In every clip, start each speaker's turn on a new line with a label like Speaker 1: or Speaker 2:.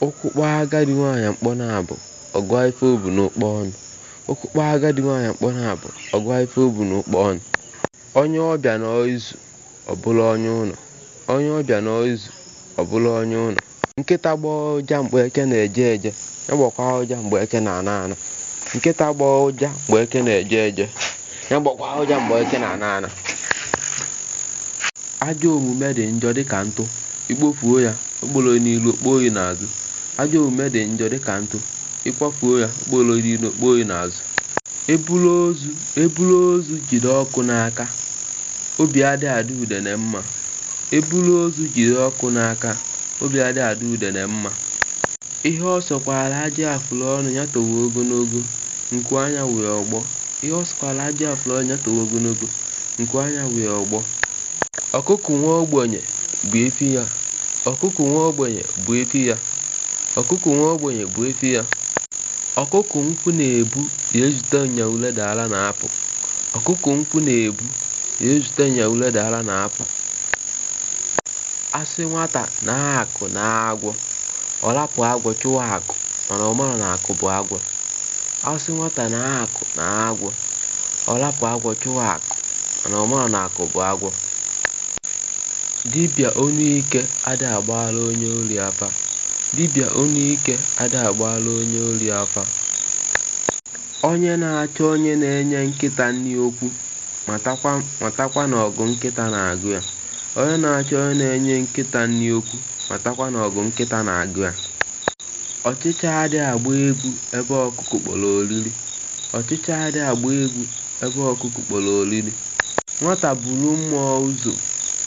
Speaker 1: Ụkwụ kpọọ agadi nwaanyị mkpọ naabọ, ọ gụa ife o bu n'ụkpọ ọnụ. Ụkwụ kpọọ agadi nwaanyị mkpọ naabọ, ọ gụa ife o bu n'ụkpọ ọnụ. Onye ọbịa nọọ izu, ọ bụrụ onye ụlọ. Onye ọbịa nọọ izu, ọ bụrụ onye ụlọ. Nkịta gbọọ ụja mgbe eke na-eje eje, ya gbọkwaa ụja mgbe eke na-ana ana. Nkịta gbọọ ụja mgbe eke na-eje eje. Ya gbakwa ụja mgbe eke na-ana ana. Ajọ omume dị njọ dịka ntụ, i kpofuo ya, o kporo n'iru, o kpoo gị n'azụ. Ajọ omume dị njọ dịka ntụ, ị kwafuo ya, o kporo n'iru, o kpoo gị n'azụ. E bulu ozu e bulu ozu jide ọkụ n'aka, obi adị adị udene mma. E bulu ozu jide ọkụ n'aka, obi adị adị udene mma. Ihe ọ sọkwara ajị afụlụ ọnụ ya towe ogologo, nku anya wee ọgbọ. Ihe ọ sọkwara ajị afụlụ ọnụ ya towe ogologo, nku anya wee ọgbọ. Ọkụkụ nwa ogbenye bụ efi ya, ọkụkụ nwa ogbenye bụ efi ya, ọkụkụ nwa ogbenye bụ efi ya. Ọkụkụ nkwọ na-ebu ya ezute nya ure dara na apụ, ọkụkụ nkwọ na-ebu ya ezute nya ure dara na apụ. A sị nwata nee akụ nee agwọ. Ọ rapụ agwọ chụwa akụ mana ọ marọ na akụ bụ agwọ. A sị nwata nee akụ nee agwọ. Ọ rapụ agwọ chụwa akụ mana ọ marọ na akụ bụ agwọ. Dibịa ọnụ ike ada agbaara onye ori afa. Dibịa ọnụ ike ada agbaara onye ori afa. Onye na-achọ onye na-enye nkịta nri okwu matakwa na ọgụ nkịta na-agụ ya. Onye na-achọ onye na-enye nkịta nri okwu Matakwa na ọgụ nkịta na-agụ ya. Ọchịcha adịghị agba egwu ebe ọkụkụ kpọrọ oriri. Ọchịcha adịghị agba egwu ebe ọkụkụ kpọrọ oriri. Nwata buru mmụọ ụzọ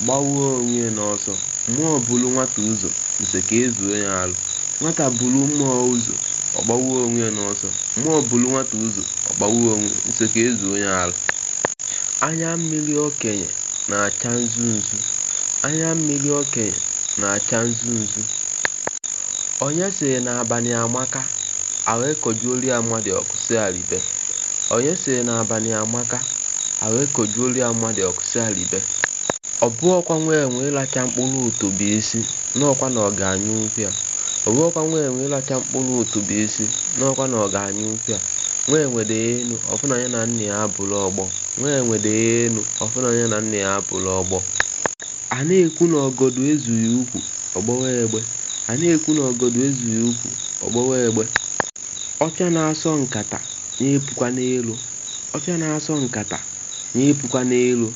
Speaker 1: gbawa onwe ya n'ọsọ. Mmụọ buru nwata ụzọ, nze ka e zuo ya arụ. Nwata buru mmụọ ụzọ, ọ gbawa onwe ya n'ọsọ. Mmụọ buru nwata ụzọ, ọ gbawa onwe ya, nze ka e zuo ya arụ. Anya mmiri okenye na-acha nzu nzu, anya mmiri okenye na-acha nzu nzu. Onye sịrị na abanị amaka, e wee kujuolu ya mmanụ ọkụ sị ya ribe. Onye sịrị na abanị amaka, e wee kujuolu ya mmanụ ọkụ sị ya ribe. Ọ bụghịkwa nwa enwe ịlacha mkpụrụ utu bụ isi, na ọkwa na ọ ga-anyụnwukwa ya. Ọ bụghịkwa nwa enwe ịlacha mkpụrụ utu bụ isi, na ọkwa na ọ ga-anyụnwukwa ya. Nwa enwe rịa enu, ọ bụ na ya na nna ya abụrụ ọgbọ. Nwa enwe dị enu, ọ fụ na ya na nna ya abụrụ ọgbọ. A na-ekwu na ọgọdọ ezughị ukwu, ọ gbọwa egbe. A na-ekwu na ọgọdọ ezughị ukwu, ọ gbọwa egbe. Ọcha na-asọ nkata, ya epukwa n'elu. Ọcha na-asọ nkata, ya epukwa n'elu.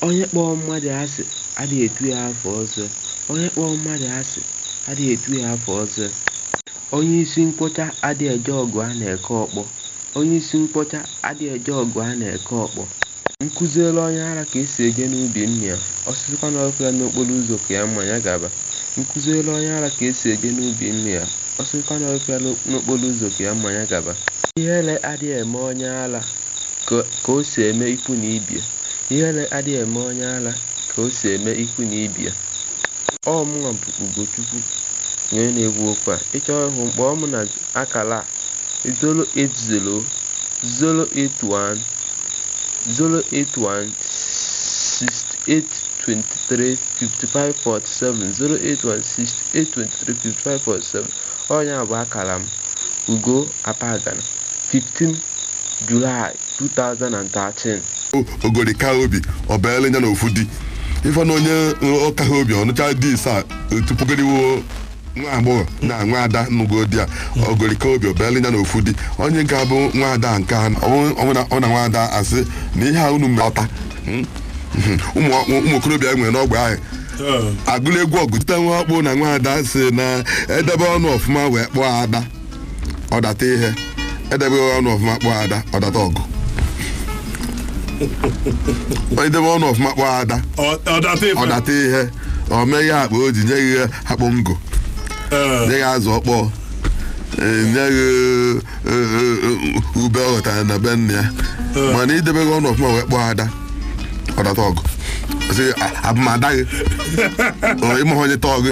Speaker 1: Onye kpọọ mmadụ asị, adị etu ya afa ọzọ. Onye kpọọ mmadụ asị, adị etu ya afa ọzọ. Onye isi mkpọcha adị eje ọgụ a na-eke ọkpọ. Onye isi mkpọcha adị eje ọgụ a na-eke ọkpọ. M kụziere onye ara ka e si eje n'ubi nna ya, ọ sịzịkwa na ọ hụ ya n'okporo ụzọ ka ya ma ya gaba. M kụziere onye ara ka e si eje n'ubi nna ya, ọ sịzịkwa na ọ hụ ya n'okporo ụzọ ka ya ma ya gaba. Ihere adịghị eme onye ara ka o si eme ikwu na ibe ya, ihere adịghị eme onye ara ka o si eme ikwu na ibe ya. Ọ mụnwa bụ Ugochukwu, onye na-ekwu okwu a. Ị chọọ ịhụ m, kpọọ m na akara a, 081-081-6823-5547, 081-6823-5547, ọ nya bụ akara m, Ugo Apagana, 15 July 2013. ogori
Speaker 2: ka obi o bili nya na ofu di ife na onye ọ kaha obi ọ nụcha di isaa tupu goriwo nwa agbọghọ na nwa ada nụgodi a ogoli ka obi o bili nya na ofu di onye nke bụ nwa ada nke a ọ na nwa ada asị na ihe a unu mere ọta Mm. ụmụ ụmụ okorobịa nwere n'ọgbe ahụ agụla egwu ọgụ tite nwa ọkpụ na nwa ada sị na edebe ọnụ ọfụma wee kpọọ ada ọ data ihe edebeghị ọnụ ọfụma kpọọ ada ọ data ọgụ i debe ọnụ ọfụma kpọọ ada Ọ- ọ data ife. ọ data ihe o meghe akpa o ji nye gị akpụ ngụ Ee, nye gị azụ ọkpọọ ee, nye gị ee, ee, ee, ube ọ ghọtara na be nna ya Ee. mana i debeghị ọnụ ọfụma wee kpọọ ada ọ data ọgụ Ọ sị, "A- abụ m ada gị Ọ, ị maghị onye tọọ gị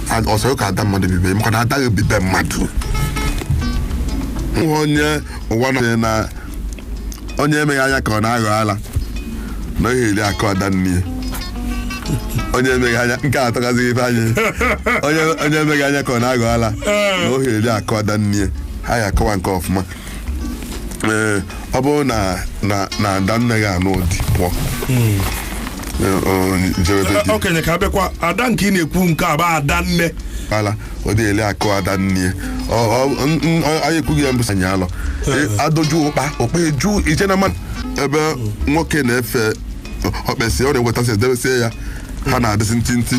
Speaker 2: A- ọ sọrọ ka ada mmadụ bi be m maka na ada gị bi be mmadụ nwa onye ụwa na na onye emeghị anya ka ọ na-aghọ ala na ohe eri akụ ada nne ya. onye emeghị anya nke a atọgazighị ife anyị onye onye emeghị anya ka ọ na-aghọ ala na ohe eri akụ ada nne ya. ha ya akọwa nke ọfụma ee ọ bụrụ na na na ada nne gị anụ di pụọ Ee, ọ,
Speaker 3: jebe be di okenye ka abịakwa ada nke ị na-ekwu nke a bụ ada nne ala ọ
Speaker 2: dị eli akụ ada nne ya. Ọ- ọ- n- n- ọ- anyị ekwughị ya mbụsa anyị alọ Ee. adọju ụkpa ụkpa eju ije na mmadụ ebe nwoke na-efe ọ kpesịa ọ na-ewetasị edebesie ya ha na-adịsị ntịntị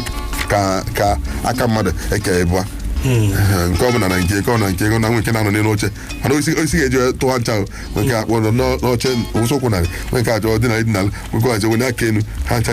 Speaker 2: ka ka aka mmadụ eke ịbụa Ee, nke ọbụla na nke nke ọ na nke ego na nwe nke na-anọ n'elu oche mana osisi ka e ji wee tụọ ncha o. nwe nke akpọ nọ n'ọ- n'oche ụsọkwụ narị nwe nke achọ ọ dina ala idina ala nwe nke ọ chọ wele aka enu ha ncha